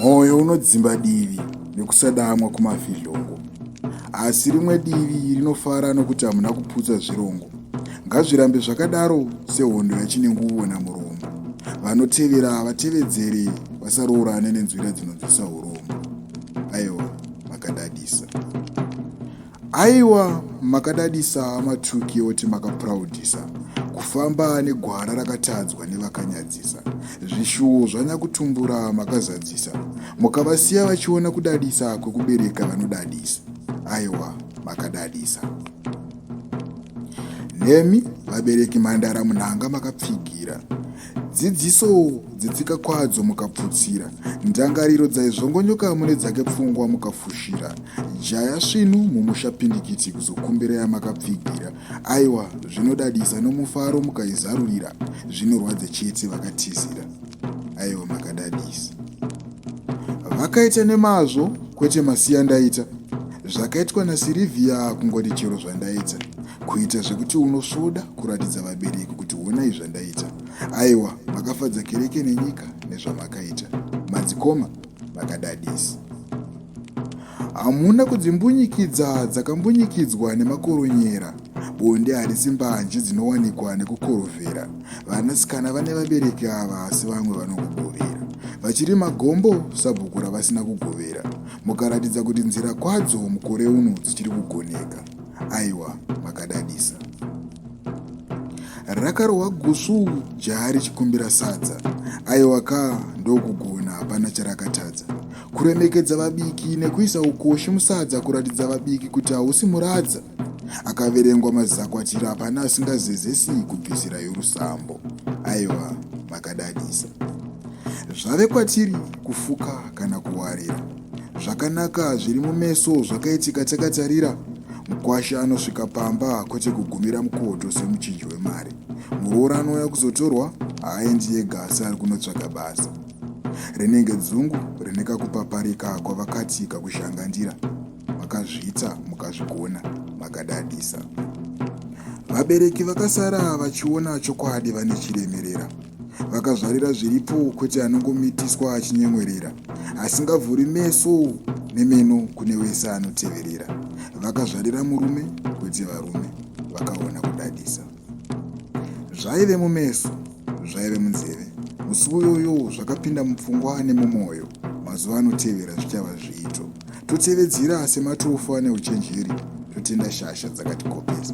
mwoyo unodzimba divi nekusadamwa kumafizhongo asi rimwe divi rinofara nokuti hamuna kuputsa zvirongo ngazvirambe zvakadaro sehondo yachinenguvona murombo vanotevera vatevedzere vasaroorane nenzwira dzinonzwisa urombo aiwa makadadisa Aiwa makadadisa hama Tuki yoti makaproudisa kufamba negwara rakatadzwa nevakanyadzisa zvishuwo zvanyakutumbura makazadzisa mukavasiya vachiona kudadisa kwekubereka vanodadisa aiwa makadadisa nemi vabereki mhandara munhanga makapfigira dzidziso dzitsika kwadzo mukaputsira ndangariro dzaizvongonyoka mune dzake pfungwa mukafushira jaya svinu mumusha pindikiti kuzokumbira yamakapfigira aiwa zvinodadisa nomufaro mukaizarurira zvinorwadze chete vakatizira aiwa makadadisa vakaita nemazvo kwete masiya ndaita zvakaitwa nasirivhiya kungoti chero zvandaita kuita zvekuti unosvoda kuratidza vabereki kuti honai zvandaita aiwa makafadza kereke nenyika nezvamakaita madzikoma makadadisi hamuna kudzimbunyikidza dzakambunyikidzwa nemakoronyera bonde harisi mbanje dzinowanikwa nekukorovhera vanasikana vane vabereki ava asi vamwe vanokugovera vachiri magombo sabhuku ravasina kugovera mukaratidza kuti nzira kwadzo mukore uno dzichiri kugoneka aiwa makadadisa rakarohwa gusvu jaya richikumbira sadza aiwa ka ndokugona hapana charakatadza kuremekedza vabiki nekuisa ukoshi musadza kuratidza vabiki kuti hausi muradza akaverengwa mazakwatira hapana asingazezesi kubvisira yorusambo aiwa makadadisa zvave kwatiri kufuka kana kuwarira zvakanaka zviri mumeso zvakaitika takatarira mukwasha anosvika pamba kwete kugumira mukoto semuchinji wemari muroora anouya kuzotorwa haaendi yega asi ari kunotsvaga basa rinenge dzungu rine kakupaparika kwavakati kakushanganira makazviita mukazvigona makadadisa vabereki vakasara vachiona chokwadi vane chiremerera vakazvarira zviripo kwete anongomitiswa achinyemwerera asingavhuri meso nemeno kune wese anoteverera vakazvarira murume kwete varume vakaona kudadisa zvaive mumeso zvaive munzeve musi uyoyo zvakapinda mupfungwa nemumwoyo mazuva anotevera zvichava zviito totevedzera sematofu ane uchenjeri totenda shasha dzakatikopesa